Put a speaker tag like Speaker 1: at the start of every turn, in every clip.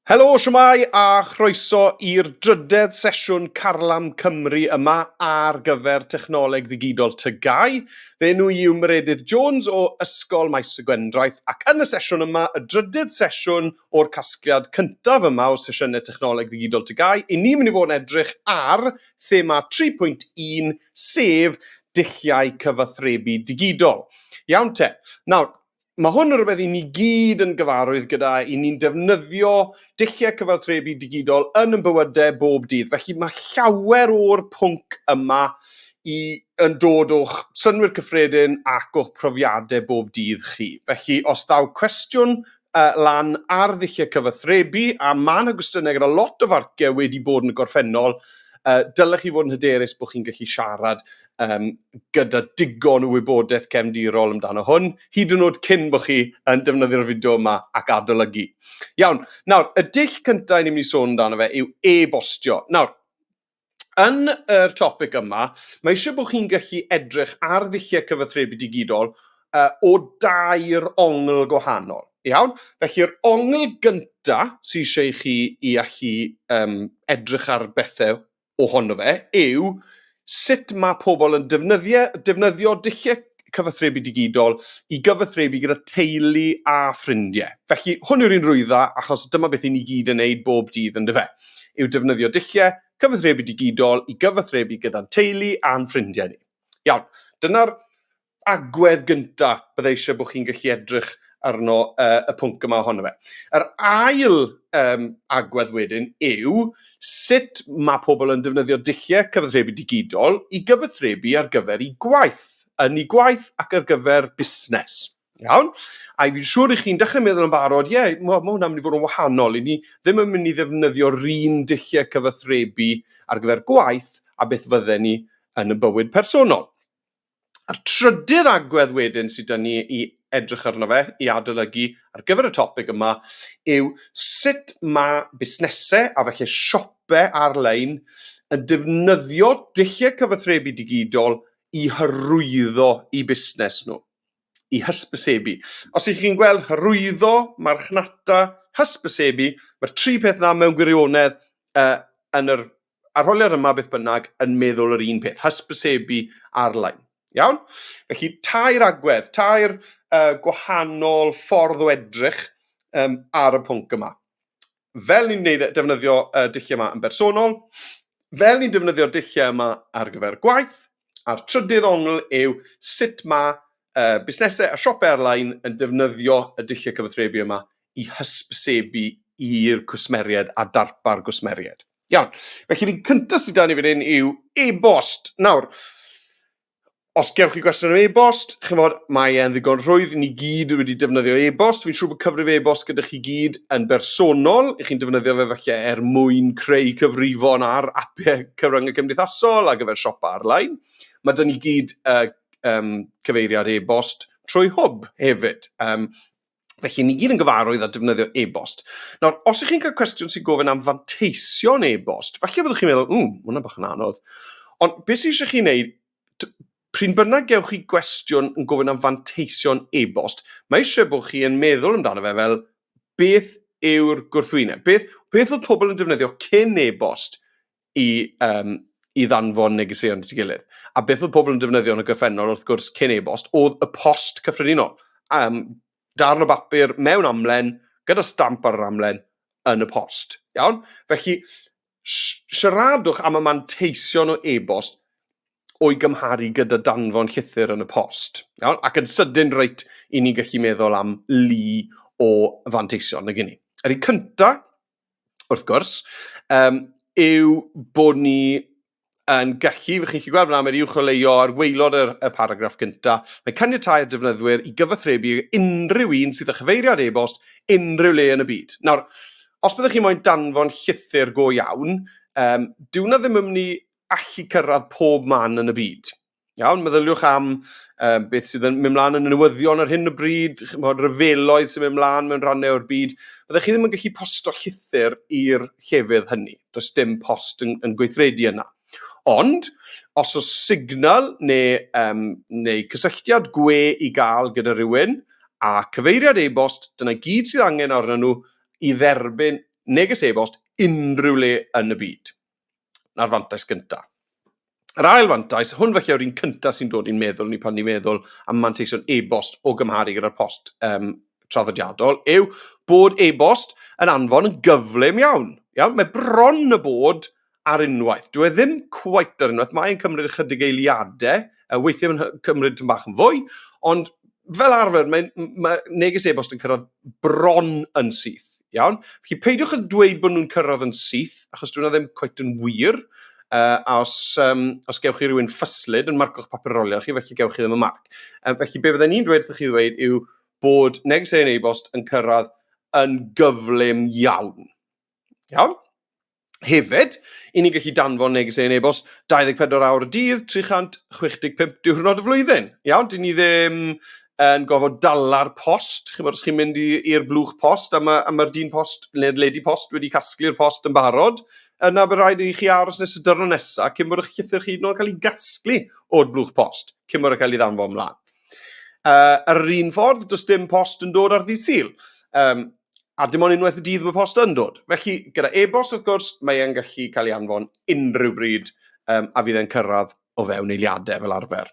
Speaker 1: Helo, shwmae a chroeso i'r drydedd sesiwn Carlam Cymru yma ar gyfer Technoleg Ddigidol TGAU. Fy enw i yw Meredydd Jones o Ysgol Maes y Gwendraeth ac yn y sesiwn yma, y drydydd sesiwn o'r casgliad cyntaf yma o sesiynau Technoleg Ddigidol TGAU, i ni mynd i fod yn edrych ar thema 3.1 sef dulliau cyfathrebu digidol. Iawn te. Nawr, mae hwn yn rhywbeth i ni gyd yn gyfarwydd gyda, i ni'n defnyddio dulliau cyfathrebu digidol yn yn bywydau bob dydd. Felly mae llawer o'r pwnc yma i, yn dod o'ch synwyr cyffredin ac o'ch profiadau bob dydd chi. Felly os daw cwestiwn uh, lan ar ddulliau cyfathrebu, a mae yna gwestiynau gyda lot o farciau wedi bod yn y gorffennol, uh, dylech chi fod yn hyderus bod chi'n gallu siarad um, gyda digon o wybodaeth cefndirol amdano hwn, hyd yn oed cyn bod chi yn defnyddio'r fideo yma ac adolygu. Iawn, nawr, y dull cyntaf ni'n mynd i sôn amdano fe yw e-bostio. Nawr, yn yr topic yma, mae eisiau bod chi'n gallu edrych ar ddulliau cyfathrebu digidol uh, o dair ongl gwahanol. Iawn? Felly'r ongl gynta sy'n eisiau chi i allu um, edrych ar bethau ohono fe yw sut mae pobl yn defnyddio, defnyddio dulliau cyfathrebu digidol i gyfathrebu gyda teulu a ffrindiau. Felly, hwn yw'r un rwydda, achos dyma beth i ni gyd yn neud bob dydd, yn dyfe? Yw defnyddio dulliau cyfathrebu digidol i gyfathrebu gyda'n teulu a'n ffrindiau ni. Iawn, dyna'r agwedd gynta bydda eisiau bod chi'n gallu edrych arno uh, y pwnc yma ohono fe. Yr ail um, agwedd wedyn yw sut mae pobl yn defnyddio dulliau cyfathrebu digidol i gyfathrebu ar gyfer i gwaith, yn i gwaith ac ar gyfer busnes. Iawn? A i fi'n siŵr i chi'n dechrau meddwl yn barod, ie, yeah, mae ma hwnna'n mynd i fod yn wahanol. I ni ddim yn mynd i ddefnyddio'r un dulliau cyfathrebu ar gyfer gwaith a beth fydden ni yn y bywyd personol. A'r trydydd agwedd wedyn sy 'da ni i edrych arno fe, i adolygu ar gyfer y topig yma, yw sut mae busnesau a falle siopau ar-lein yn defnyddio dulliau cyfathrebu digidol i hyrwyddo eu busnes nhw, i hysbysebu. Os ych chi'n gweld hyrwyddo, marchnata, hysbysebu, mae'r tri peth 'na mewn gwirionedd yn yr arholiad yma beth bynnag yn meddwl yr un peth, hysbysebu arlein. Iawn? Felly, tair agwedd, tair uh, gwahanol ffordd o edrych um, ar y pwnc yma. Fel ni'n neud, e, defnyddio uh, dulliau yma yn bersonol, fel ni'n defnyddio dulliau yma ar gyfer gwaith, a'r trydydd ongl yw sut mae uh, busnesau a siopau ar-lein yn defnyddio y dulliau cyfathrebu yma i hysbysebu i'r cwsmeriaid a darpar gwsmeriaid. Iawn. Felly, ni'n cyntaf sydd dan ni fan hyn yw e-bost. Nawr, os gewch chi gwestiwn am e-bost, chi'n fod, mae e'n ddigon rhwydd, ni gyd wedi defnyddio e-bost, fi'n siŵr bod cyfrif e-bost gyda chi gyd yn bersonol, i chi'n defnyddio fe falle er mwyn creu cyfrifon ar apau cyfryngau cymdeithasol a gyfer siopa ar-lein. Mae dyn ni gyd uh, um, cyfeiriad e-bost trwy hwb hefyd. Um, Felly, ni gyd yn gyfarwydd â defnyddio e-bost. Nawr, os ych chi'n cael cwestiwn sy'n gofyn am fanteision e-bost, falle byddwch chi'n meddwl, mm, hwnna bach yn anodd. Ond beth sy'n eisiau chi'n neud, pryn bynnag gewch chi gwestiwn yn gofyn am fanteision e-bost, mae eisiau bod chi yn meddwl amdano fe fel beth yw'r gwrthwyneb? Beth, beth oedd pobl yn defnyddio cyn e-bost? i, um, i ddanfon negeseuon at ei gilydd. A beth oedd pobl yn defnyddio yn y gyffennol, wrth gwrs, cyn e-bost, oedd y post cyffredinol. Um, darn o bapur mewn amlen, gyda stamp ar yr amlen, yn y post. Iawn? Felly, siaradwch am y manteision o e-bost o'i gymharu gyda danfon llythyr yn y post. Iawn? Ac yn sydyn reit, i ni'n gallu meddwl am lu o fanteision na gynnu. Yr un cyntaf, wrth gwrs, um, yw bod ni yn gallu, chi'n gallu gweld fyna, mae'r uwcholeuo ar weilod y, y paragraff gyntaf, mae caniatau y defnyddwyr i gyfathrebu unrhyw un sydd â chyfeiriad e-bost unrhyw le yn y byd. Nawr, os byddwch chi moyn danfon llythyr go iawn, um, dyw na ddim yn mynd i allu cyrraedd pob man yn y byd. Iawn, meddyliwch am um, beth sydd yn mynd mlaen yn y newyddion ar hyn o bryd, chymod, ryfeloedd sy'n mynd mlaen mewn rhannau o'r byd. Byddwch chi ddim yn gallu posto llythyr i'r llefydd hynny. Does dim post yn, yn gweithredu yna. Ond, os oes signal neu, um, neu cysylltiad gwe i gael gyda rhywun a cyfeiriad e-bost, dyna gyd sydd angen arnyn nhw i dderbyn neges e-bost unrhyw le yn y byd. na'r fantais gyntaf. Yr ail fantais, hwn felly yw'r un cyntaf sy'n dod i'n meddwl ni pan ni'n meddwl am manteision e-bost o gymharu gyda'r post um, traddodiadol, yw bod e-bost yn anfon yn gyflym iawn. iawn. Mae bron y bod ar unwaith. Dwi e ddim cwait ar unwaith, mae'n cymryd ychydig eiliadau Uh, weithiau mae'n cymryd tyn bach yn fwy, ond fel arfer, mae, mae neges e-bost yn cyrraedd bron yn syth. Iawn? Felly peidiwch yn dweud bod nhw'n cyrraedd yn syth, achos dwi'n ddim cweit yn wir. Uh, a os, um, os gewch chi rhywun ffyslyd yn marco'ch papur rolion chi, felly gewch chi ddim y marc. Uh, felly be fydden ni'n dweud wrthych chi ddweud yw bod neges ein e-bost yn cyrraedd yn gyflym iawn. Iawn? Hefyd, i ni gallu danfon negeseuon e-bost 24 awr y dydd, 365 diwrnod y flwyddyn. Iawn, dyn ni ddim yn gofod dala'r post. Chi'n bod, os chi'n mynd i'r blwch post a mae'r ma, dyn post neu'r lady post wedi casglu'r post yn barod, yna bydd rhaid i chi aros nes y dyrno nesaf cyn bod eich llythyr chi yn cael ei gasglu o'r blwch post, cyn bod e'n cael ei ddanfon mlaen. Uh, ar yr un ffordd, does dim post yn dod ar ddydd syl. Um, A dim ond unwaith y dydd mae post yn dod. Felly, gyda e-bost wrth gwrs, mae e'n gallu cael ei anfon unrhyw bryd um, a fydd e'n cyrraedd o fewn eiliadau fel arfer.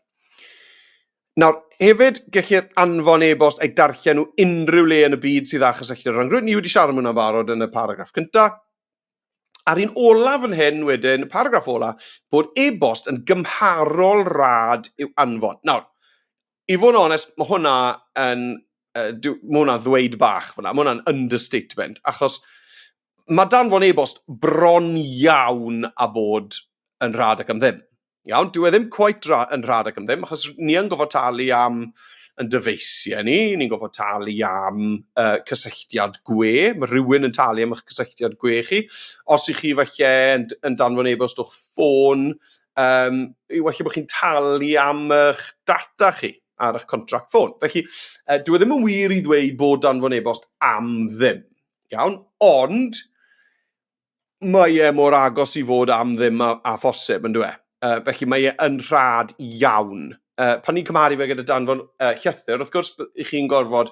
Speaker 1: Nawr, hefyd, gellir anfon e-bost a'i darllen nhw unrhyw le yn y byd sydd â chysylltiad o ran grwyd. Ni wedi siarad am hwnna'n barod yn y paragraff cyntaf. A'r un olaf fan hyn wedyn, y paragraff olaf, bod e-bost yn gymharol rad i'w anfon. Nawr, i fod yn onest, mae hwnna yn, uh, dw, mae hwnna ddweud bach fyna, mae hwnna'n understatement, achos mae danfon e-bost bron iawn a bod yn rad ac am ddim. Iawn, dyw e ddim cweit yn rhad ac am ddim, achos ni yn gofod talu am yn dyfeisiau ni, ni'n gofod talu am uh, cysylltiad gwe, mae rhywun yn talu am eich cysylltiad gwe chi. Os ych chi falle yn, yn danfon e-bost o'ch ffôn, um, i falle bod chi'n talu am eich data chi ar eich contract ffôn. Felly, uh, dwi e ddim yn wir i ddweud bod danfon e-bost am ddim. Iawn, ond mae e mor agos i fod am ddim â, â phosib, yn dweud. Uh, felly mae e yn rhad iawn. Uh, pan ni'n cymharu fe gyda danfon uh, llythyr, wrth gwrs, i chi'n gorfod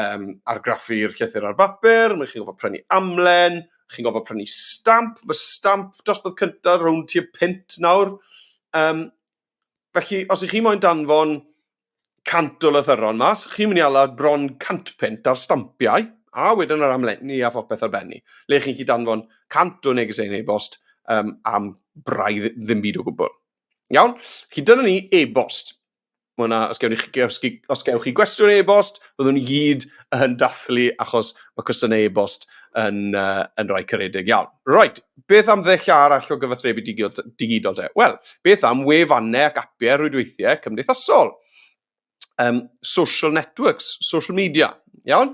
Speaker 1: um, argraffu'r llythyr ar bapur, mae chi'n gorfod prynu amlen, chi'n gorfod prynu stamp, mae stamp dosbarth cyntaf rhwng tua pint nawr. Um, Felly, os ych chi moyn danfon cant o lythyron mas, chi'n mynd i alad bron cant pent ar stampiau, a wedyn yr amlenni a phopeth ar benni, le chi'n chi danfon cant o neges ein e-bost um, am braidd ddim byd o gwbl. Iawn? Chi dyna ni e-bost. Mwna, os gewch chi, os, os gewch chi gwestiwn e-bost, byddwn ni gyd yn dathlu achos mae cwestiynau e-bost yn, uh, yn rhai caredig iawn. Right, Beth am ddulliau arall o gyfathrebu digidol te? Wel, beth am wefannau ac apiau rwydweithiau cymdeithasol? Um, social networks, social media, iawn?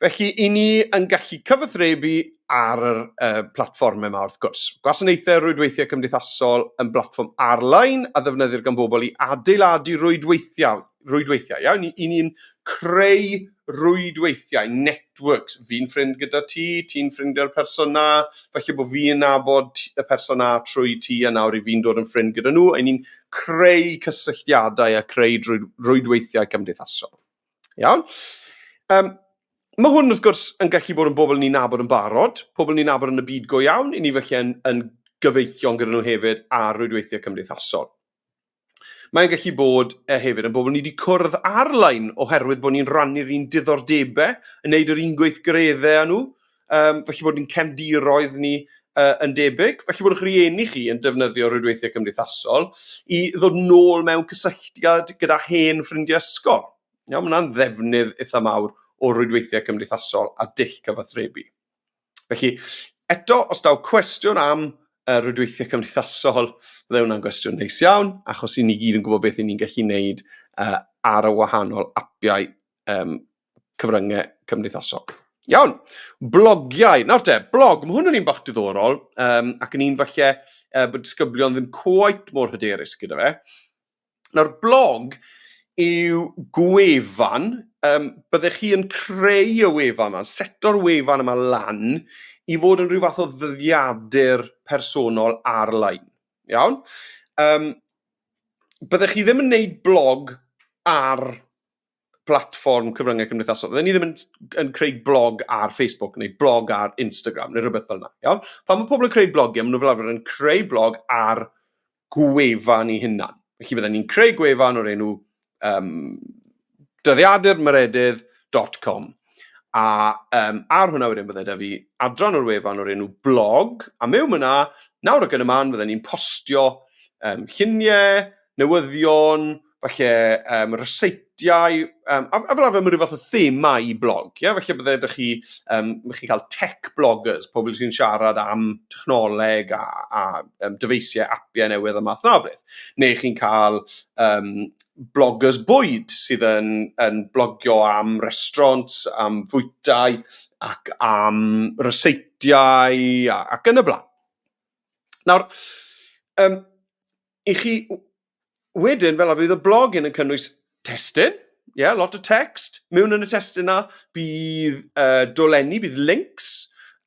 Speaker 1: Felly, i ni yn gallu cyfathrebu ar yr uh, platfformau yma wrth gwrs. Gwasanaethau rwydweithiau cymdeithasol yn blatfform ar-lein a ddefnyddir gan bobl i adeiladu rwydweithiau rwydweithiau, iawn? Ni, I ni'n creu rwydweithiau, networks. Fi'n ffrind gyda ti, ti'n ffrind gyda'r person na, felly bod fi'n nabod y person na trwy ti a nawr i fi'n dod yn ffrind gyda nhw. I ni'n creu cysylltiadau a creu rwydweithiau cymdeithasol. Iawn? Um, mae hwn wrth gwrs yn gallu bod yn bobl ni'n nabod yn barod, pobl ni'n nabod yn y byd go iawn, i ni felly yn, yn gyfeillion gyda nhw hefyd ar rwydweithiau cymdeithasol. Mae'n gallu bod e, hefyd yn bobl ni wedi cwrdd ar-lein oherwydd bod ni'n rhannu'r un diddordebau, yn neud yr un gweithgareddau â nhw, um, felly bod ni'n cefndiroedd ni uh, yn debyg. Felly bod eich rhieni chi yn defnyddio rhwydweithiau cymdeithasol i ddod nôl mewn cysylltiad gyda hen ffrindiau ysgol. Iawn, mae hwnna'n ddefnydd eitha mawr o rwydweithiau cymdeithasol a dull cyfathrebu. Felly, eto, os daw cwestiwn am uh, rwydweithiau cymdeithasol, fydde hwnna'n gwestiwn neis iawn, achos i ni gyd yn gwybod beth i ni'n gallu gwneud uh, ar y wahanol apiau um, cyfryngau cymdeithasol. Iawn, blogiau. Nawr te, blog, mae hwn yn un bach diddorol, um, ac yn un falle uh, bod disgyblion ddim quite mor hyderus gyda fe. Nawr, blog yw gwefan, um, byddech chi yn creu y wefan yma, seto'r wefan yma lan i fod yn rhyw fath o ddyddiadur personol ar-lein. Iawn? Um, byddech chi ddim yn neud blog ar platfform cyfryngau cymdeithasol. Fydden ni ddim yn, yn creu blog ar Facebook neu blog ar Instagram neu rhywbeth fel yna. Iawn? Pan mae pobl yn creu blogiau, maen nhw fel arfer yn creu blog ar gwefan ei hunan. Felly fydden ni'n creu gwefan o'r enw um, dyddiadurmaredydd.com a um, ar hwnna wedyn bydde da fi adran o'r wefan o'r enw blog a mewn yna nawr ac yn y man fydden ni'n postio um, lluniau, newyddion, falle um, ryseitiau, um, a, a fel arfer mae rhyw fath o thema i blog. Yeah? Falle bydde ydych chi, um, chi cael tech bloggers, pobl sy'n siarad am technoleg a, a um, dyfeisiau apiau newydd a math na beth. Neu chi'n cael um, bloggers bwyd sydd yn, yn blogio am restaurant, am fwytau ac am ryseitiau ac yn y blaen. Nawr, um, i chi wedyn, fel arfer, bydd y blog yn cynnwys testyn, ie, yeah, lot o text. Mewn yn y testyn yna, bydd uh, dolenni, bydd links,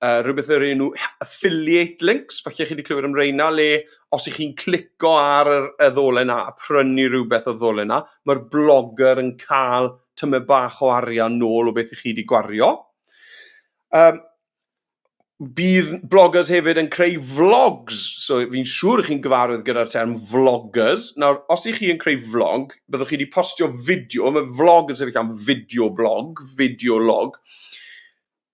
Speaker 1: uh, rhywbeth yr enw affiliate links, falle chi wedi clywed am reina, le os ych chi'n clico ar y, y ddolen yna a prynu rhywbeth o ddolen yna, mae'r blogger yn cael tymed bach o arian nôl o beth ych chi wedi gwario. Um, bydd bloggers hefyd yn creu vlogs, so fi'n siŵr chi'n gyfarwydd gyda'r term vloggers. Nawr, os ych chi yn creu vlog, byddwch chi wedi postio fideo, mae vlog yn sefyll am fideo blog, fideo log,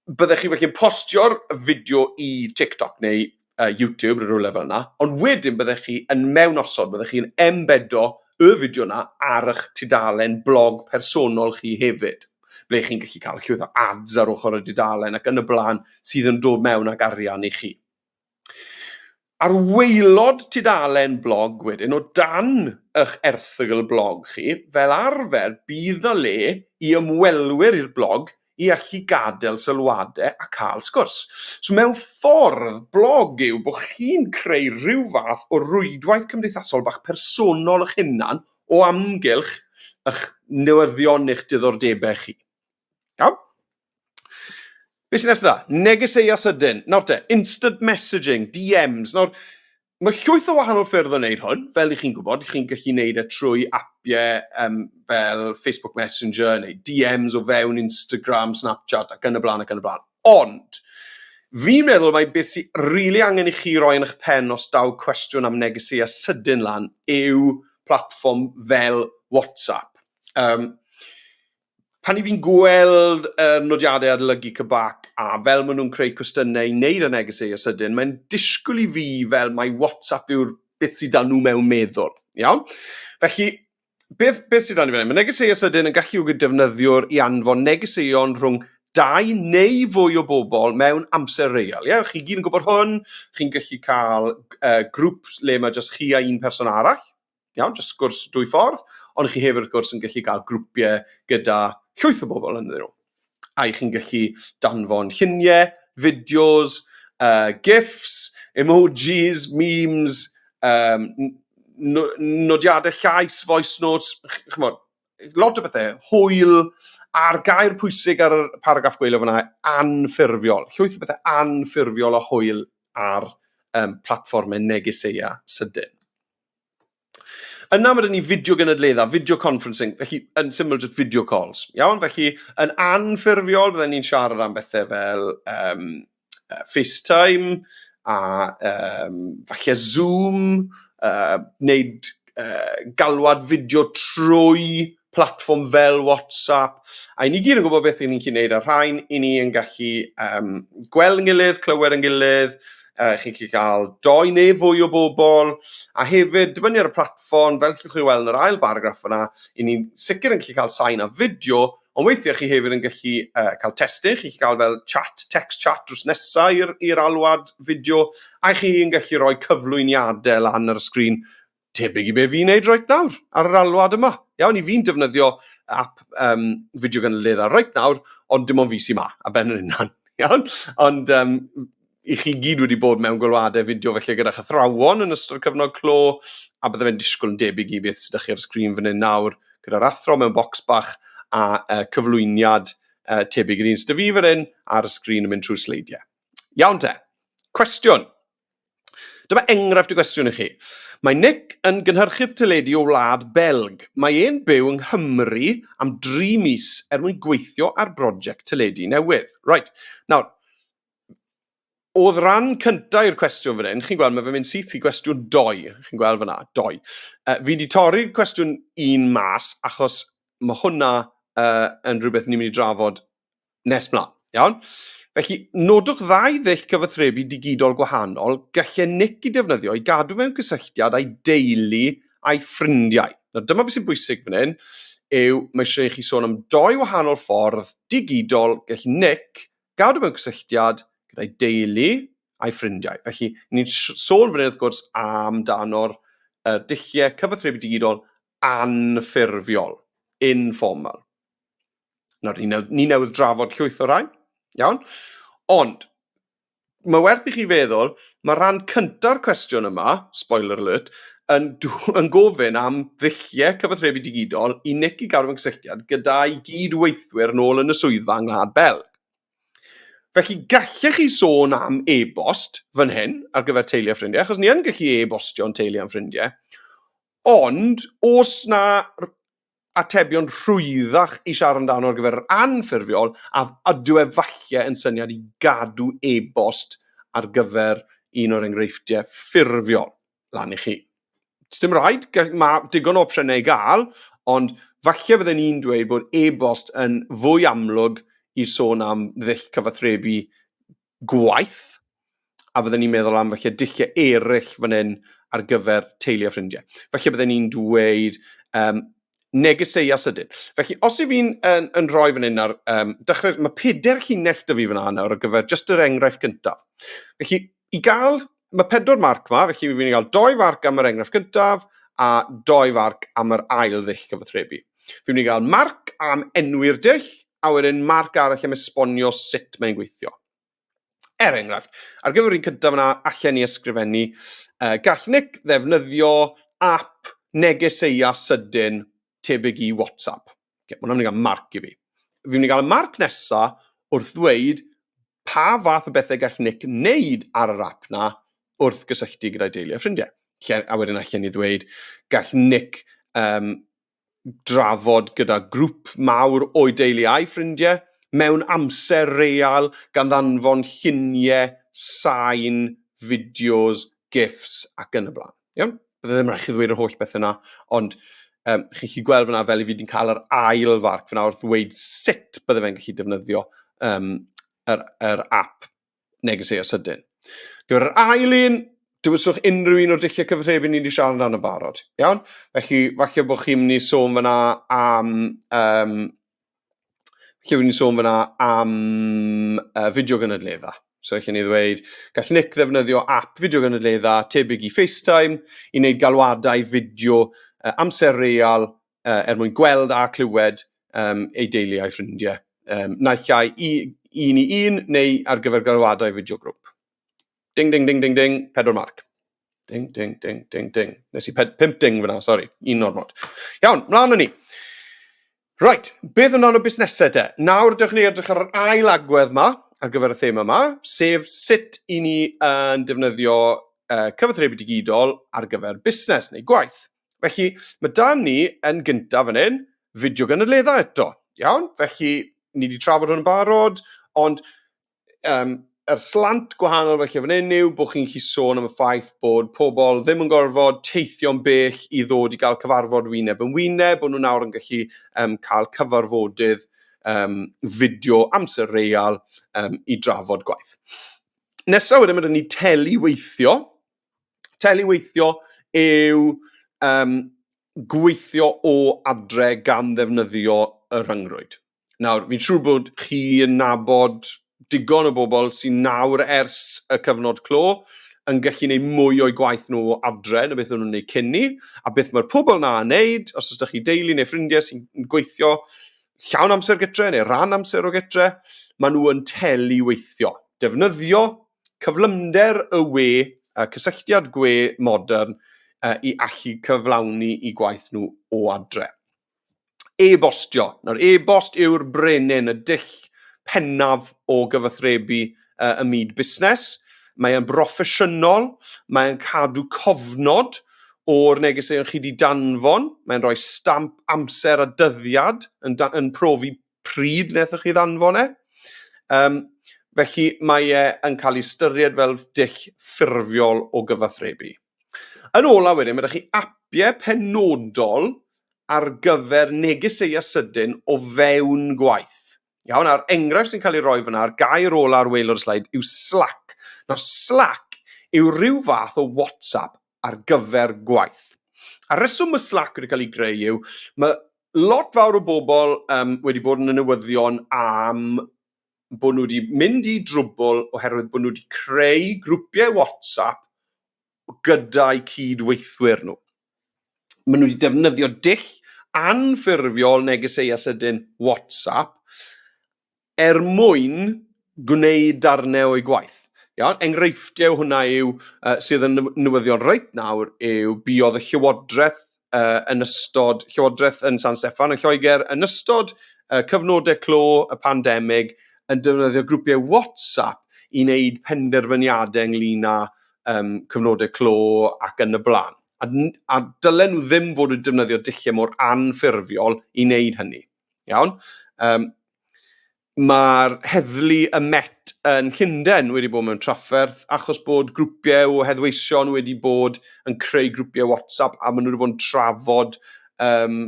Speaker 1: byddwch chi felly'n postio'r fideo i TikTok neu uh, YouTube, rhywle fel yna, ond wedyn byddwch chi yn mewn osod, byddwch chi'n embedo y fideo yna ar eich tudalen blog personol chi hefyd. ble chi'n gallu cael llwyth o ads ar ochr y dudalen ac yn y blaen sydd yn dod mewn ag arian i chi. Ar waelod tudalen blog wedyn, o dan eich erthygl blog chi, fel arfer bydd na le i ymwelwyr i'r blog i allu gadael sylwadau a cael sgwrs. So mewn ffordd, blog yw bod chi'n creu rhyw fath o rwydwaith cymdeithasol bach personol eich hunan o amgylch eich newyddion neu'ch diddordebau chi. Iawn? Be sy'n nesaf da? Negeseuau sydyn. Nawr te, instant messaging, DMs. Nawr, mae llwyth o wahanol ffyrdd o wneud hwn, fel i chi'n gwybod, i chi'n gallu wneud e trwy apiau um, fel Facebook Messenger neu DMs o fewn Instagram, Snapchat ac yn y blaen ac yn y blaen. Ond, fi'n meddwl mai beth sy rili angen i chi roi yn eich pen os daw cwestiwn am negeseuau sydyn lan yw platfform fel WhatsApp. Um, pan i fi'n gweld uh, nodiadau adolygu Cybac a fel maen nhw'n creu cwestiynau i wneud â negeseuau sydyn, mae'n disgwyl i fi fel mai WhatsApp yw'r beth sydd dan nhw mewn meddwl. Iawn? Felly, beth, beth sydd dan i fyny? Mae negeseuau sydyn yn galluogi defnyddiwr i anfon negeseuon rhwng dau neu fwy o bobl mewn amser real. Ie? Chi gyd yn gwybod hwn, chi'n gallu cael uh, grŵp le mae jyst chi a un person arall, iawn, jyst sgwrs dwy ffordd, ond chi hefyd wrth gwrs yn gallu cael grwpiau gyda llwyth o bobl yn ddyn nhw. a chi'n gallu danfon lluniau, fideos, uh, gifs, emojis, memes, um, nodiadau llais, voice notes, chymod, lot o bethau, hwyl, a'r gair pwysig ar y paragraff gweilio fyna, anffurfiol. Llwyth o bethau anffurfiol a hwyl ar um, platformau negeseia sydyn. Yna mae gen ni fideo gynadledda, video conferencing, felly yn syml just video calls. Iawn, felly yn anffurfiol byddwn ni'n siarad am bethau fel um, FaceTime a um, falle Zoom, uh, wneud uh, galwad fideo trwy platfform fel WhatsApp, a i ni gyd yn gwybod beth i ni'n cyd wneud ar rhain, i ni yn gallu um, gweld yn gilydd, clywed yn gilydd, uh, chi'n gallu cael doi neu fwy o bobl, a hefyd, dibynnu ar y platfform, fel chi'n chi weld yn yr ail baragraff yna, i ni'n sicr yn gallu cael sain a fideo, ond weithiau chi hefyd yn gallu uh, cael testyn, chi'n gallu cael fel chat, text chat drws nesau i'r alwad fideo, a chi'n gallu rhoi cyflwyniadau lan ar y sgrin tebyg i be fi'n neud reit nawr ar yr alwad yma. Iawn, i fi'n defnyddio app um, fideo gynnydd ar reit nawr, ond dim ond fi sy'n ma, a ben yr unan. Iawn, ond um, i chi gyd wedi bod mewn gwylwadau fideo felly gyda chythrawon yn ystod cyfnod clo, a bydde fe'n disgwyl yn debyg i beth sydd ydych chi ar y sgrin fan hyn nawr, gyda'r athro mewn bocs bach a uh, cyflwyniad uh, tebyg i'r un sydd fi fan hyn ar y sgrin yn mynd trwy sleidiau. Iawn te, cwestiwn. Dyma enghraifft y gwestiwn i chi. Mae Nick yn gynhyrchydd teledu o wlad Belg. Mae e'n byw yng Nghymru am dri mis er mwyn gweithio ar broject teledu newydd. Right, nawr, oedd ran cyntaf i'r cwestiwn fan hyn, chi'n gweld, mae fe'n mynd syth i gwestiwn doi, chi'n gweld fyna, doi. Uh, fi wedi torri'r cwestiwn un mas achos mae hwnna uh, yn rhywbeth ni'n mynd i drafod Nes mlaen, iawn? Felly, nodwch ddau ddull cyfathrebu digidol gwahanol gallu Nick i defnyddio i gadw mewn cysylltiad â'i deulu a'i ffrindiau. Nawr, dyma beth sy'n bwysig fan hyn, yw mae eisiau i chi sôn am doi wahanol ffordd digidol gallu Nick gadw mewn cysylltiad gyda'i deulu a'i ffrindiau. Felly, ni'n sôn fan hyn wrth gwrs amdano'r uh, dulliau cyfathrebu digidol anffurfiol, informal. nawr ni, newyd, ni newydd drafod llwyth o rai, iawn? Ond, mae werth i chi feddwl, mae rhan cynta'r cwestiwn yma, spoiler alert, yn, yn gofyn am ddulliau cyfathrebu digidol i Nick i gadw yn cysylltiad gyda'i gyd-weithwyr yn ôl yn y swyddfa yng Ngwlad Belg. Felly, gallech chi sôn am e-bost fan hyn ar gyfer teulu a ffrindiau, achos ni yn gallu e-bostio'n teulu a'n ffrindiau. Ond, os na atebion rhwyddach i siarad amdano ar gyfer yr anffurfiol, a ydyw e falle yn syniad i gadw e-bost ar gyfer un o'r enghreifftiau ffurfiol lan i chi. Dim rhaid, mae digon o opsiynau i gael, ond falle fydden i'n dweud bod e-bost yn fwy amlwg i sôn am ddull cyfathrebu gwaith, a fydden ni'n meddwl am felly dulliau eraill fan hyn ar gyfer teulu a ffrindiau. Felly bydden ni'n dweud um, negeseuau sydyn. Felly, os i fi'n yn, yn rhoi fan hyn ar, um, dechrau, mae peder llinell dy fi fan hyn nawr ar gyfer just yr enghraifft gyntaf. Felly, i gael mae pedwar marc yma, felly fi'n mynd i gael doi farc am yr enghraifft gyntaf a doi farc am yr ail ddull cyfathrebu. Fi'n mynd i gael marc am enwi'r dull a wedyn marc arall am esbonio sut mae'n gweithio. Er enghraifft, ar gyfer un cyntaf yna, allan ni ysgrifennu, uh, gall Nick ddefnyddio app negeseia sydyn tebyg i WhatsApp. Okay, mae hwnna'n mynd i gael marc i fi. Fi'n mynd i gael y marc nesa wrth ddweud pa fath o bethau gall Nick wneud ar yr app na wrth gysylltu gyda'i deulu a ffrindiau. A wedyn allan ni ddweud, gall Nick um, drafod gyda grŵp mawr o'i deulu a'i ffrindiau mewn amser real gan ddanfon lluniau, sain, fideos, gifs ac yn y blaen. Iawn? Bydde ddim rhaid chi ddweud yr holl beth yna, ond um, chi'n chi gweld fyna fel i fi wedi'n cael yr ail farc fyna wrth ddweud sut bydde fe'n gallu defnyddio um, yr, yr app neges ei asydyn. Gyda'r ail un, dywyswch unrhyw un o'r dulliau cyfathrebu ni wedi siarad amdano barod. Iawn? Felly, falle bod chi'n mynd i sôn fyna am um, lle rwy'n sôn fyna am uh, fideo gynadledda. So, chi'n ei ddweud, gall Nick ddefnyddio app fideo gynadledda tebyg i FaceTime i wneud galwadau fideo uh, amser real uh, er mwyn gweld a clywed um, ei deulu a'i ffrindiau. Um, naill ai i, un i un neu ar gyfer galwadau fideo grŵp. Ding, ding, ding, ding, ding, pedwar marc. Ding, ding, ding, ding, ding. Nes i 5 ding fyna, sori, un ormod. Iawn, mlaen â ni. Right, beth amdano busnesau de? Nawr ydych chi'n edrych ar yr ail agwedd yma ar gyfer y thema yma, sef sut i ni yn uh, defnyddio uh, cyfathrebu digidol ar gyfer busnes neu gwaith. Felly, mae dan ni yn gyntaf yn hyn, fideo gynadleddau eto. Iawn? Felly, ni wedi trafod hwn yn barod, ond um, yr slant gwahanol felly fan hyn yw bod chi'n gallu sôn am y ffaith bod pobl ddim yn gorfod teithio'n bell i ddod i gael cyfarfod wyneb yn wyneb, bod nhw nawr yn gallu um, cael cyfarfodydd um, fideo amser real um, i drafod gwaith. Nesaf wedyn mae ni teli weithio. Teli weithio yw um, gweithio o adre gan ddefnyddio y rhyngrwyd. Nawr, fi'n siŵr bod chi yn nabod digon o bobl sy'n nawr ers y cyfnod clo yn gallu gwneud mwy o'i gwaith nhw adre na beth o'n nhw'n gwneud cyn ni, a beth mae'r pobl na yn wneud, os ydych chi deulu neu ffrindiau sy'n gweithio llawn amser gytre neu ran amser o gytre, maen nhw yn telu weithio. Defnyddio cyflymder y we, y cysylltiad gwe modern, i allu cyflawni i gwaith nhw o adre. e-bostio. Nawr, e-bost yw'r brenin, y dull pennaf o gyfathrebu uh, ym myd busnes. Mae e'n broffesiynol, mae'n cadw cofnod o'r negeseuon chi wedi danfon, mae'n rhoi stamp amser a dyddiad yn, yn profi pryd wnaethoch chi ddanfon e. Um, felly mae e yn cael ei ystyried fel dull ffurfiol o gyfathrebu. Yn olaf wedyn, mae 'da chi apiau penodol ar gyfer negeseu a sydyn o fewn gwaith. Iawn, a'r enghraifft sy'n cael ei roi fyna, a'r gair ola ar waelod y sleid, yw Slack. Nawr, Slack yw rhyw fath o WhatsApp ar gyfer gwaith. A reswm mae Slack wedi cael ei greu yw, mae lot fawr o bobl um, wedi bod yn y newyddion am bod nhw wedi mynd i drwbl oherwydd bod nhw wedi creu grwpiau WhatsApp gyda'u cyd-weithwyr nhw. Maen nhw wedi defnyddio dull anffurfiol negeseuau sydyn WhatsApp er mwyn gwneud darnau o'i gwaith. Iawn? Enghreifftiau hwnna yw, uh, sydd yn newyddion reit nawr yw buodd y Llywodraeth uh, yn ystod Llywodraeth yn San Steffan yn Lloegr, yn ystod uh, cyfnodau clo y pandemig, yn defnyddio grwpiau WhatsApp i wneud penderfyniadau ynglyn â um, cyfnodau clo ac yn y blaen. A, a dylen nhw ddim fod yn defnyddio dulliau mor anffurfiol i wneud hynny. Iawn? Um, Mae'r heddlu y Met yn Llundain wedi bod mewn trafferth achos bod grwpiau o heddweision wedi bod yn creu grwpiau WhatsApp a maen nhw wedi bod yn trafod, um,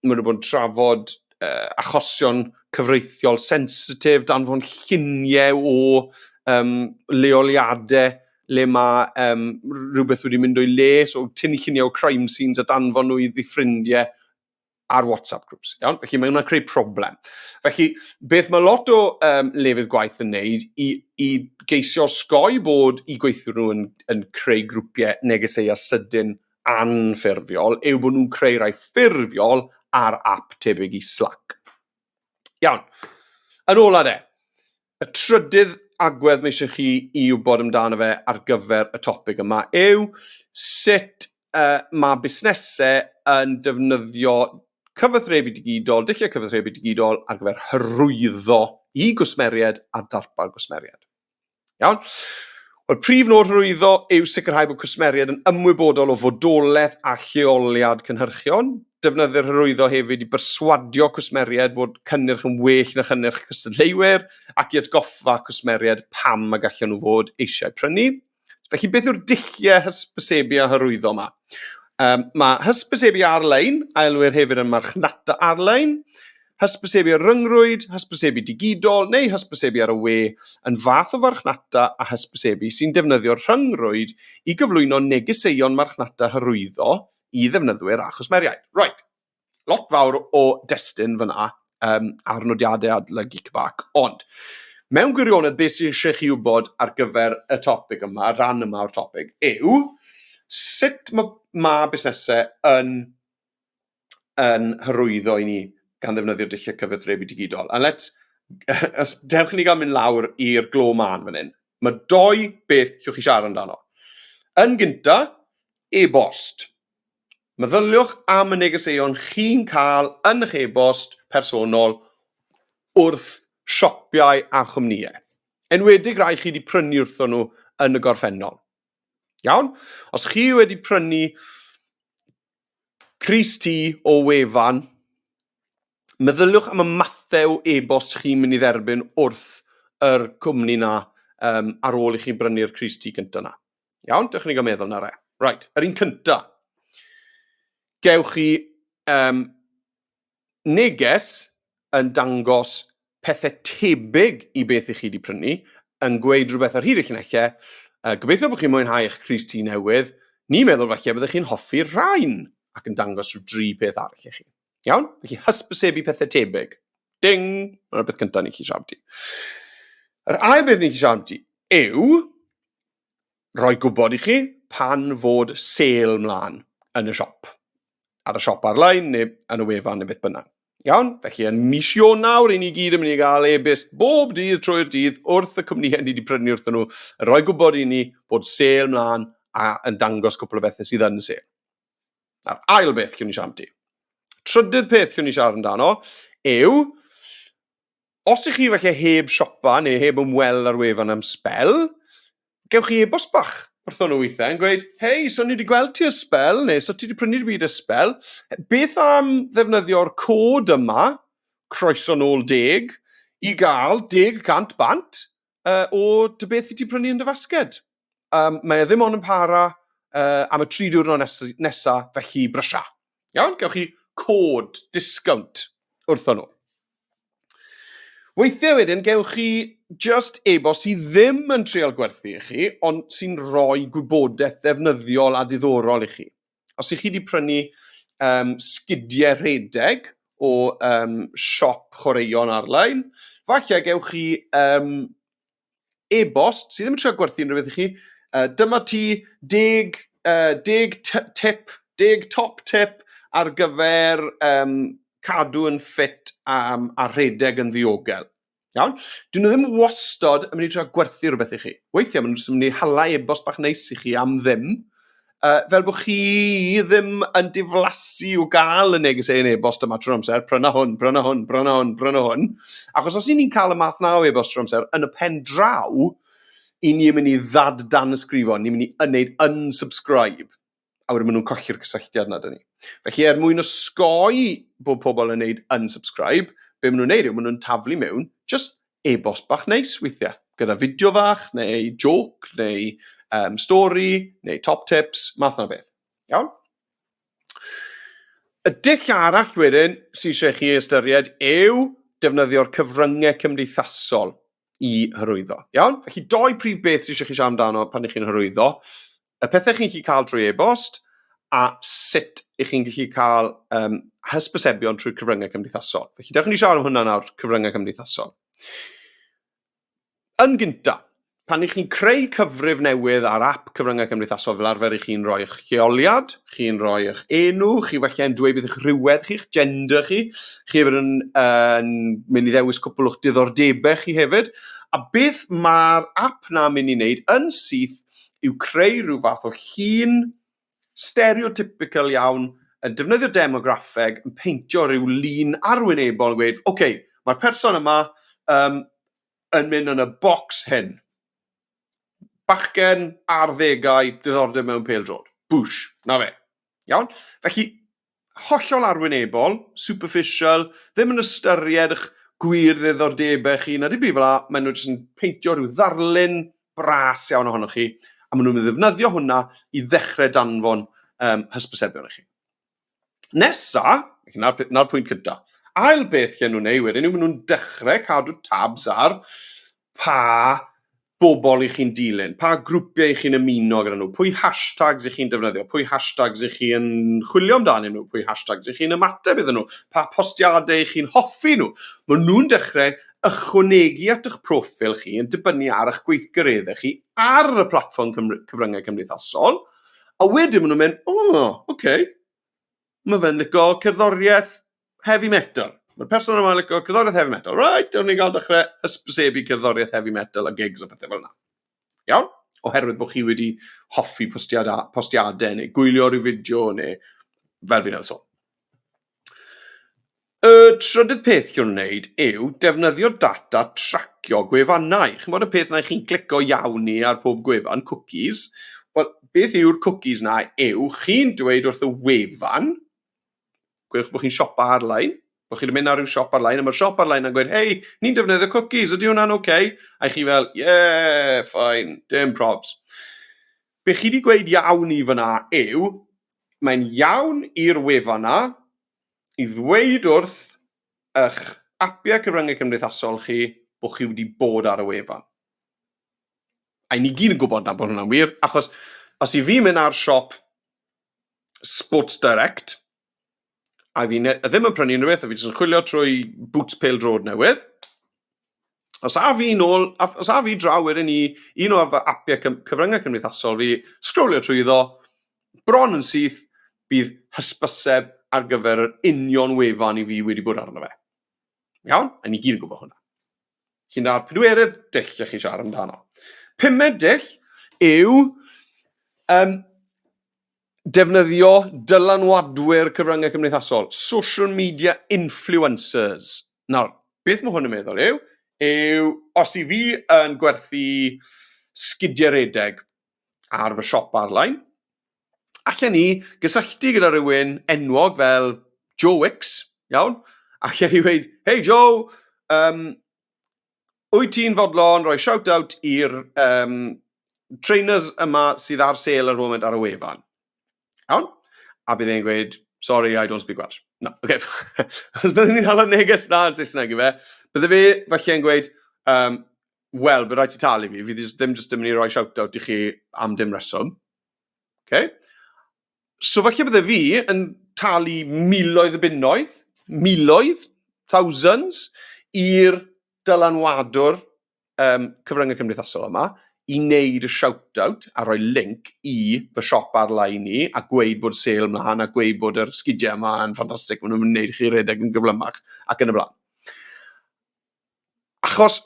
Speaker 1: maen nhw wedi bod yn trafod uh, achosion cyfreithiol sensitif, danfon lluniau o um, leoliadau le mae um, rhywbeth wedi mynd o'i le, so tynnu lluniau o crime scenes a danfon nhw i ddi ffrindiau ar WhatsApp groups. Iawn? Felly mae hwnna'n creu problem. Felly, beth mae lot o um, lefydd gwaith yn neud i, i geisio sgoi bod i gweithio nhw yn, yn creu grwpiau negeseuau sydyn anffurfiol yw bod nhw'n creu rhai ffurfiol ar app tebyg i Slack. Iawn. Yn ola de, Y trydydd agwedd mae eisiau chi i wybod amdano fe ar gyfer y topig yma yw sut uh, mae busnesau yn defnyddio cyfathrebu digidol, dulliau cyfathrebu digidol ar gyfer hyrwyddo i gwsmeriaid a darpar gwsmeriaid. Iawn? Mae'r prif nod hyrwyddo yw sicrhau bod cwsmeriaid yn ymwybodol o fodolaeth a lleoliad cynhyrchion. Defnyddir hyrwyddo hefyd i berswadio cwsmeriaid fod cynnyrch yn well na chynnyrch cystadleuwyr ac i atgoffa cwsmeriaid pam y gallan nhw fod eisiau prynu. Felly, beth yw'r dulliau hysbysebu a hyrwyddo yma? Um, mae hysbysebu ar-lein, a elwir hefyd yn marchnata ar-lein, hysbysebu ar ryngrwyd, hysbysebu digidol neu hysbysebu ar y we yn fath o farchnata a hysbysebu sy'n defnyddio'r rhyngrwyd i gyflwyno negeseuon marchnata hyrwyddo i ddefnyddwyr a chwsmeriaid. Right. Lot fawr o destun fyna um, ar nodiadau adla Geekback, ond mewn gwirionedd beth sy'n eisiau chi wybod ar gyfer y topig yma, rhan yma o'r topig, yw sut mae ma busnesau yn yn hyrwyddo i ni gan ddefnyddio dulliau cyfathrebu digidol. A let, os dewch ni gael mynd lawr i'r glo man fan hyn, mae doi beth llwch chi siarad amdano. Yn gynta, e-bost. Meddyliwch am y negeseuon chi'n cael yn eich e-bost personol wrth siopau a chwmnïau. Enwedig rai chi wedi prynu wrthon nhw yn y gorffennol. Iawn? Os chi wedi prynu Crys ti o wefan. Meddyliwch am y mathau e-bost chi'n mynd i dderbyn wrth yr cwmni na um, ar ôl i chi brynu'r crys ti cyntaf na. Iawn, dych chi'n cael meddwl na re. Right, yr un cyntaf. Gewch chi um, neges yn dangos pethe tebyg i beth i chi wedi prynu, yn gweud rhywbeth ar hyd y llunellau. Uh, gobeithio bod chi'n mwynhau eich crys tŷ newydd. Ni'n meddwl falle byddwch chi'n hoffi'r rhain ac yn dangos rhyw dri peth arall i chi. Iawn? Felly hysbysebu pethau tebyg. Ding! Mae'r beth cyntaf ni chi siarad i. Yr ail beth ni chi siarad i yw rhoi gwybod i chi pan fod sale mlaen yn y siop, ar y siop ar-lein neu yn y wefan neu beth bynnag. Iawn? Felly yn mis Ionawr, i ni gyd yn mynd i gael e-byst bob dydd trwy'r dydd wrth y cwmnïau ni wedi prynu wrthyn nhw, yn rhoi gwybod i ni bod sale mlaen a yn dangos cwpl o bethau sydd yn sale. A'r ail beth chiwn ni siarad amdano. Trydydd peth chiwn ni siarad amdano yw os ych chi felly heb siopa neu heb ymweld ar wefan am sbel, gewch chi e-bost bach wrthon nhw weithiau yn gweud, hei, so ni wedi gweld ti ysbel, neu so ti wedi prynu'r byd ysbel, beth am ddefnyddio'r cod yma, croeso nôl deg, i gael deg cant bant, uh, o dy beth i ti prynu yn dy fasged. Um, mae e ddim ond yn para uh, am y tri diwrnod nesaf, nesa, felly brysia. Iawn, gewch chi cod, discount wrthon nhw. Weithiau wedyn, gewch chi just e-bost sydd ddim yn treol gwerthu i chi, ond sy'n rhoi gwybodaeth ddefnyddiol a diddorol i chi. Os ych chi wedi prynu um, sgidiau rhedeg o um, siop chwaraeon ar-lein, falle gewch chi um, e-bost sydd ddim yn trio gwerthu unrhyw beth i chi, uh, dyma ti deg, uh, deg tip, deg top tip ar gyfer um, cadw yn ffit um, a rhedeg yn ddiogel. Iawn? Dyn nhw ddim wastod yn mynd i trio gwerthu rhywbeth i chi. Weithiau maen nhw'n mynd i hala e-bost bach neis i chi am ddim, uh, fel bod chi ddim yn diflasu o gael y neges ein e-bost yma trwy'r amser, pryna hwn, pryna hwn, pryna hwn, pryna hwn. Achos os ni'n cael y math na o e-bost trwy'r amser, yn y pen draw, i ni'n mynd i ddad dan ysgrifo, ni'n mynd i yneud unsubscribe. a wedyn maen nhw'n colli'r cysylltiad nad ni. Felly er mwyn osgoi bod pobl yn neud unsubscribe, be maen nhw'n neud yw maen nhw'n taflu mewn just e-bost bach neis weithiau, gyda fideo fach, neu joc, neu um, stori, neu top tips, math na beth. Iawn? Y dull arall wedyn sy'n eisiau chi ystyried yw defnyddio'r cyfryngau cymdeithasol i hyrwyddo. Iawn? Felly doi prif beth sy'n eisiau chi siarad amdano pan ych chi'n hyrwyddo. y pethau chi'n gallu cael trwy e-bost a sut ych chi'n gallu cael um, hysbysebion trwy'r cyfryngau cymdeithasol. Felly, dewch i ni siarad am hwnna nawr, cyfryngau cymdeithasol. Yn gynta, pan ych chi'n creu cyfrif newydd ar app cyfryngau cymdeithasol fel arfer i chi'n rhoi eich lleoliad, chi'n rhoi eich enw, chi falle yn dweud beth ych rhywedd chi, eich gender chi, chi hefyd yn, yn mynd i ddewis cwpl o'ch diddordebau chi hefyd, a beth mae'r app na'n mynd i wneud yn syth yw creu rhyw fath o llun stereotypical iawn yn defnyddio demograffeg yn peintio rhyw lun arwynebol yn gweud, ok, mae'r person yma um, yn mynd yn y bocs hyn. Bachgen ar ddegau, diddordeb mewn pel drod. Bwsh, na fe. Iawn? Felly, hollol arwynebol, superficial, ddim yn ystyried y'ch gwir ddiddordebau chi na dim byd fel 'na, maen nhw jyst yn peintio rhyw ddarlun bras iawn ohonoch chi, a maen nhw'n mynd i ddefnyddio hwnna i ddechrau danfon um, hysbysebion i chi. Nesa, na'r, na'r pwynt cyntaf. Ail beth lle nhw'n ei wedyn yw maen nhw'n dechrau cadw tabs ar pa bobl y'ch chi'n dilyn, pa grwpiau y'ch chi'n ymuno gyda nhw, pwy hashtags y'ch chi'n defnyddio, pwy hashtags y'ch chi yn chwilio amdanyn nhw, pwy hashtags y'ch chi'n ymateb iddyn nhw, pa postiadau y'ch chi'n hoffi nhw. Maen nhw'n dechrau ychwanegu at y'ch proffil chi yn dibynnu ar y'ch gweithgareddau chi ar y platfform cyfryngau cymdeithasol, a wedyn maen nhw'n mynd, 'O, ok. Mae fe'n lico cerddoriaeth heavy metal. Mae'r person yma'n lico cerddoriaeth heavy metal. Right, o'n i'n cael dechrau ysbysebu cerddoriaeth heavy metal a gigs a pethau fel yna. Iawn? Oherwydd bod chi wedi hoffi postiadau, postiadau neu gwylio rhyw fideo neu fel fi'n edrych sôn. Y trydydd peth i'w wneud yw defnyddio data tracio gwefannau. Chimod y peth 'na chi'n clico iawn ni ar pob gwefan, cwcis. Wel, beth yw'r cwcis 'na yw chi'n dweud wrth y wefan, gwelwch bod chi'n siopa arlein, bod chi'n mynd ar ryw siop arlein, a mae'r siop arlein yn gweud, hei, ni'n defnyddio cwcis, ydy hwnna'n oce? Okay? A chi fel, ie, yeah, ffain, dim probs. Be chi wedi gweud iawn i fyna yw, mae'n iawn i'r wefan 'na, i ddweud wrth eich apiau cyfryngau cymdeithasol chi bod chi wedi bod ar y wefan. A ni gyd yn gwybod na bod hwnna'n wir, achos os i fi mynd ar siop Sports Direct, a fi ddim yn prynu unrhyw beth, a fi jyst yn chwilio trwy boots pêl drod newydd, Os a fi nôl, os a fi draw wedyn i un o'r fy apiau cyfryngau cymdeithasol fi, sgrolio trwy iddo, bron yn syth, bydd hysbyseb ar gyfer yr union wefan i fi wedi bod arno fe. Iawn? A ni gyd yn gwybod hwnna. Chi'n da'r pedwerydd dull lle chi siarad amdano. Pumed dull yw um, Defnyddio dylanwadwyr cyfryngau cymdeithasol, social media influencers. Nawr, beth mae hwn yn meddwl yw, yw os i fi yn gwerthu sgidiau redeg ar fy siop arlein, allan ni gysylltu gyda rhywun enwog fel Joe Wicks, iawn? Allan ni wedi, hei Joe, um, wyt ti'n fodlon rhoi shout-out i'r um, trainers yma sydd ar sale ar y foment ar y wefan? Iawn? A bydd e'n gweud, sorry, I don't speak Welsh. Na, oce. Okay. Os byddwn ni'n hala neges na yn Saesneg i fe, bydde fe falle yn gweud, um, wel, bydd rhaid ti talu fi, fi ddim jyst yn mynd i roi shout-out i chi am dim reswm. Okay? So falle bydde fi yn talu miloedd y bunnoedd, miloedd, thousands, i'r dylanwadwr um, cyfryngau cymdeithasol yma i wneud y shout-out a rhoi link i fy siop ar-lein i a gweud bod sale mlaen a gweud bod yr sgidiau yma yn ffantastig, maen nhw'n gwneud chi redeg yn gyflymach ac yn y blaen. achos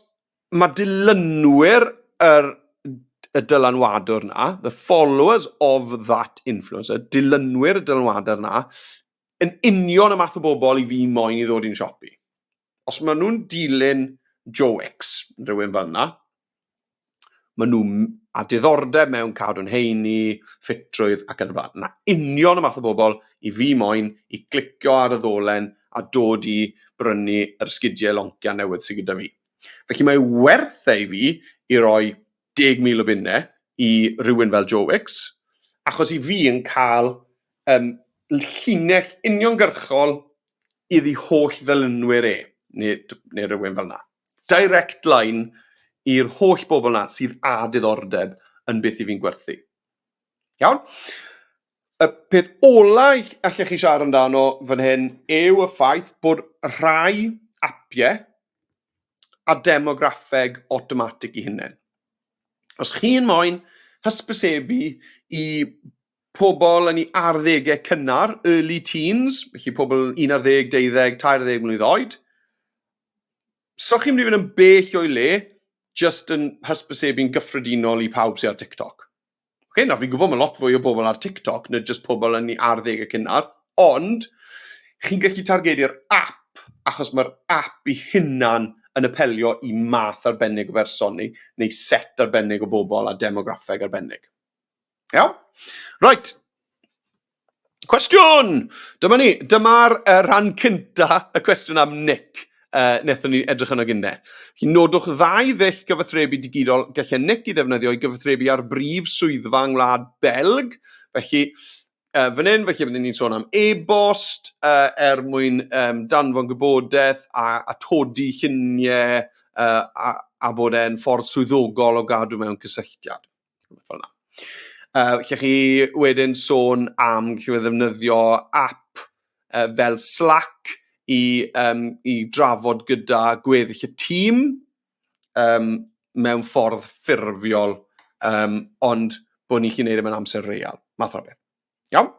Speaker 1: mae dilynwyr yr y dylanwadwr na, the followers of that influencer, dilynwyr y dylanwadwr na, yn union y math o bobl i fi moyn i ddod i'n siop i. Os maen nhw'n dilyn Joe Wicks, rhywun fel yna, Maen nhw a diddordeb mewn cadw'n heini, ffitrwydd ac yn y blaen. Mae union y math o bobl i fi moyn i glicio ar y ddolen a dod i brynu yr ysgidiau loncia newydd sydd gyda fi. Felly mae werth e i fi i roi 10,000 o bunnau i rywun fel Joe Wicks, achos i fi yn cael um, llinell uniongyrchol iddi holl ddylunwyr e, neu, neu rhywun fel yna. Direct line i'r holl bobl yna sydd â diddordeb yn beth i fi'n gwerthu. Iawn? Y peth ola allech chi siarad amdano fan hyn yw y ffaith bod rhai apiau a demograffeg automatic i hynny. Os chi'n moyn hysbysebu i pobl yn ei arddegau cynnar, early teens, felly pobl 11, 12, 13 mlynedd oed. So chi'n mynd i fod yn bell o'i le, just yn hysbysebu'n gyffredinol i pawb sy'n ar TikTok. Okay, nawr fi'n gwybod mae lot fwy o bobl ar TikTok na just pobl yn ei arddegau cynnar, ond chi'n gallu targedu'r app, achos mae'r app i hunan yn apelio i math arbennig o berson neu, neu set arbennig o bobl a demograffeg arbennig. Iawn? Right. Cwestiwn! Dyma ni. Dyma'r uh, rhan cynta y cwestiwn am Nick uh, nethon ni edrych yno gynne. Felly nodwch ddau ddull gyfathrebu digidol gallai Nick i ddefnyddio i gyfathrebu ar brif swyddfa yng Ngwlad Belg. Felly, uh, fan hyn, felly byddwn ni'n sôn am e-bost uh, er mwyn um, danfon gwybodaeth a, a todi lluniau uh, a, a bod e'n ffordd swyddogol o gadw mewn cysylltiad. rhywbeth fel yna. Uh, lle chi wedyn sôn am chi ddefnyddio app uh, fel Slack i, um, i drafod gyda gweddill y tîm um, mewn ffordd ffurfiol, um, ond bod ni'n chi'n neud e mewn amser real, math o beth. Iawn?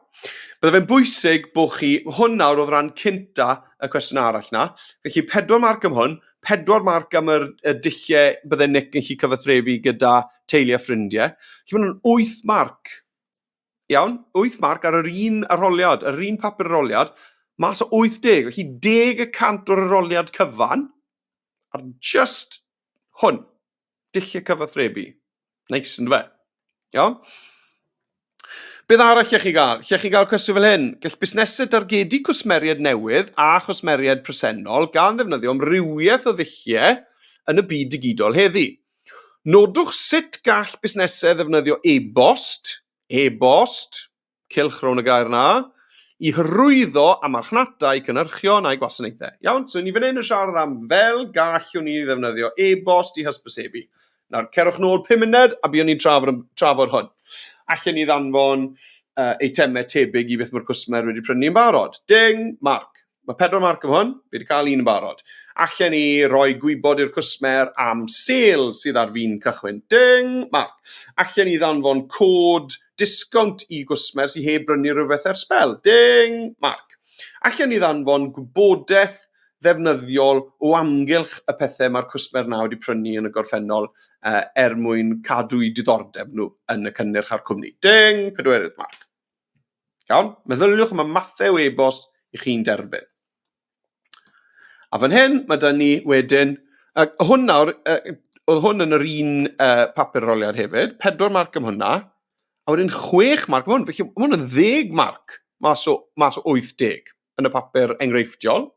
Speaker 1: Bydde fe'n bwysig bod chi, hwn nawr oedd rhan cynta y cwestiwn arall na, felly pedwar marc am hwn, pedwar marc am yr, y dulliau bydde Nick yn chi cyfathrebu gyda teulu a ffrindiau. Felly mae'n wyth marc. Iawn? Wyth marc ar yr un arholiad, yr un papur arholiad, mas o 80, felly deg y cant o'r arholiad cyfan, ar just hwn. Dulliau cyfathrebu. Neis, ynddo fe? Iawn? Beth arall lle chi gael? Lle chi gael cwestiwn fel hyn? Gall busnesau dargedu cwsmeriaid newydd a chwsmeriaid presennol gan ddefnyddio amrywiaeth o ddulliau yn y byd digidol heddi. Nodwch sut gall busnesau ddefnyddio e-bost, e-bost, cylch rhwng y gair na, i hyrwyddo a marchnata i cynhyrchion a'i gwasanaethau. Iawn, so ni fan hyn yn siarad am fel gallwn ni ddefnyddio e-bost i hysbysebu. Nawr, cerwch nôl 5 munud a byddwn ni'n trafod, trafod hwn. Allen ni ddanfon uh, eitemau tebyg i beth mae'r cwsmer wedi prynu yn barod. Ding, Mark. Mae pedwar marc efo hwn, fi wedi cael un yn barod. Allen ni roi gwybod i'r cwsmer am sel sydd ar fin cychwyn. Ding! Marc. Allen ni ddanfon cod disgownt i gwsmer sydd heb brynu rhywbeth ers sbel. Ding! Marc. Allen ni ddanfon gwybodaeth ddefnyddiol o amgylch y pethau mae'r cwsmer na wedi prynu yn y gorffennol uh, er mwyn cadw'i diddordeb nhw yn y cynnyrch a'r cwmni. Ding! Pedwerydd, Marc. Iawn? Meddyliwch am y mathau o e-bost i chi'n derbyn. A fan hyn, mae da ni wedyn, a hwn nawr, oedd hwn yn yr un uh, papur roliad hefyd, pedwar marc am hwnna, a wedyn chwech marc am hwn. Felly, mae hwn yn ddeg marc mas o, mas o 80 yn y papur enghreifftiol.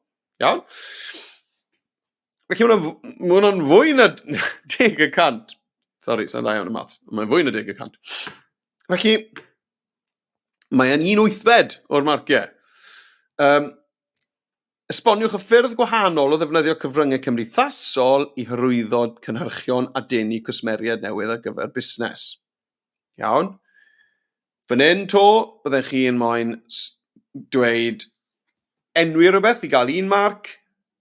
Speaker 1: Iawn? Felly mae hwnna'n ma hwnna fwy na deg y cant. Sorry, sa'n dda iawn y maths. Mae'n fwy na deg y cant. Felly, mae'n un wythfed o'r marciau. Um, esboniwch y ffyrdd gwahanol o ddefnyddio cyfryngau cymdeithasol i hyrwyddo cynhyrchion a denu cwsmeriaid newydd ar gyfer busnes. Iawn? Fan hyn to, byddech chi'n moyn dweud enwi rhywbeth i gael un marc,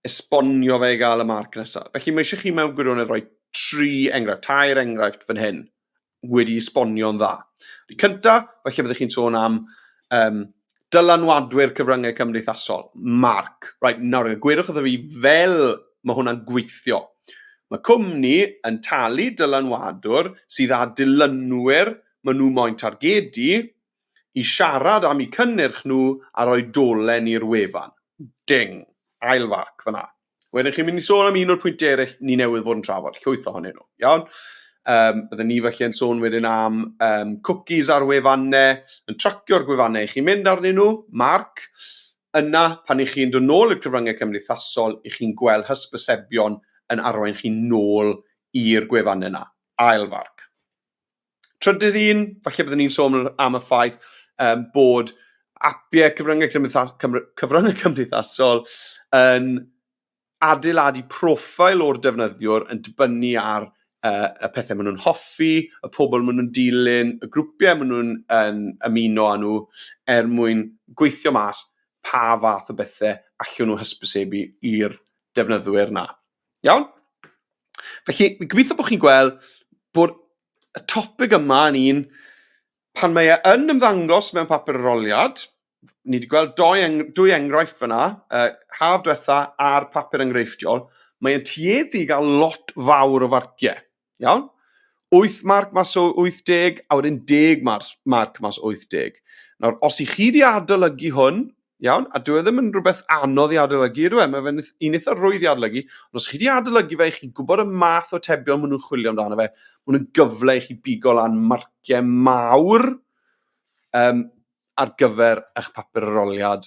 Speaker 1: esbonio fe i gael y marc nesaf. Felly mae eisiau chi mewn gwirionedd roi tri enghraifft, tair enghraifft fan hyn, wedi esbonio'n dda. Y cyntaf, felly byddech chi'n sôn am um, dylanwadwyr cyfryngau cymdeithasol, Mark, right, nawr gwirwch wrtho fi fel mae hwnna'n gweithio. Mae cwmni yn talu dylanwadwr sydd â dilynwyr maen nhw moyn targedu i siarad am eu cynnyrch nhw a rhoi dolen i'r wefan. Ding. Ail farc fyna. Wedyn chi'n mynd i sôn am un o'r pwyntiau eraill ni newydd fod yn trafod, llwyth ohonyn nhw, iawn? Um, bydden ni felly yn sôn wedyn am um, cookies ar wefannau, yn tracio'r gwefannau i chi'n mynd arnyn nhw, marc, yna pan i chi'n dod nôl i'r cyfryngau cymdeithasol, i chi'n gweld hysbysebion yn arwain chi nôl i'r gwefannau yna, ailfarc. Trydydd un, falle byddwn ni'n sôn am y ffaith um, bod apiau cyfryngau, cymdeithas, cyfryngau cymdeithasol yn adeiladu profil o'r defnyddiwr yn dibynnu ar uh, y pethau maen nhw'n hoffi, y pobl maen nhw'n dilyn, y grwpiau maen nhw'n um, ymuno â nhw er mwyn gweithio mas pa fath o bethau allwn nhw hysbysebu i'r defnyddwyr na. Iawn? Felly, fi'n gobeithio bod chi'n gweld bod y topig yma yn un, pan mae e yn ymddangos mewn papur aroliad, ni wedi gweld dwy, eng dwy enghraifft fyna, uh, haf diwetha a'r papur enghreifftiol, mae'n tueddu i gael lot fawr o farciau. Iawn? 8 marc mas o 80, a wedyn 10 marc, marc mas o 80. Nawr, os i chi di adolygu hwn, iawn, a dwi e ddim yn rhywbeth anodd i adolygu, ydw e, mae fe'n un eitha rwydd i adolygu, ond os chi di adolygu fe, chi'n gwybod y math o tebion maen nhw'n chwilio amdano fe, maen nhw'n gyfle i chi bigo lan marciau mawr um, ar gyfer eich papur aroliad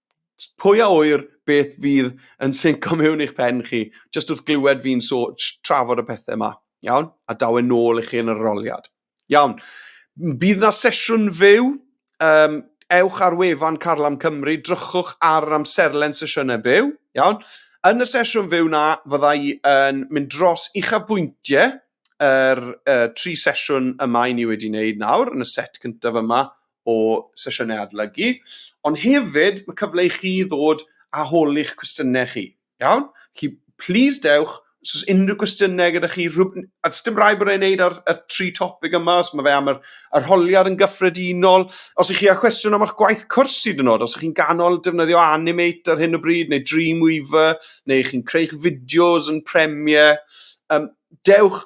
Speaker 1: pwy a ŵyr beth fydd yn synco mewn i'ch pen chi, jyst wrth glywed fi'n so, trafod y pethau yma. Iawn? A daw e'n nôl i chi yn yr aroliad. Iawn. Bydd na sesiwn fyw, um, ewch ar wefan Carlam Cymru, drychwch ar yr amserlen sesiynau byw, iawn? Yn y sesiwn fyw na, fydda i yn mynd dros uchafbwyntiau yr uh, tri sesiwn yma i ni wedi wneud nawr, yn y set cyntaf yma o sesiynau adolygu, ond hefyd mae cyfle i chi ddod a hol i'ch cwestiynau chi. Iawn? Chi, please dewch, os oes unrhyw gwestiynau gyda chi, rhywb... a does dim rhaid bod e'n neud ar y tri topic yma, os mae fe am yr, yr holiad yn gyffredinol, os ych chi â cwestiwn am eich gwaith cwrs hyd yn oed, os ych chi'n ganol defnyddio Animate ar hyn o bryd, neu Dreamweaver, neu chi'n creu'ch fideos yn Premiere, um, dewch,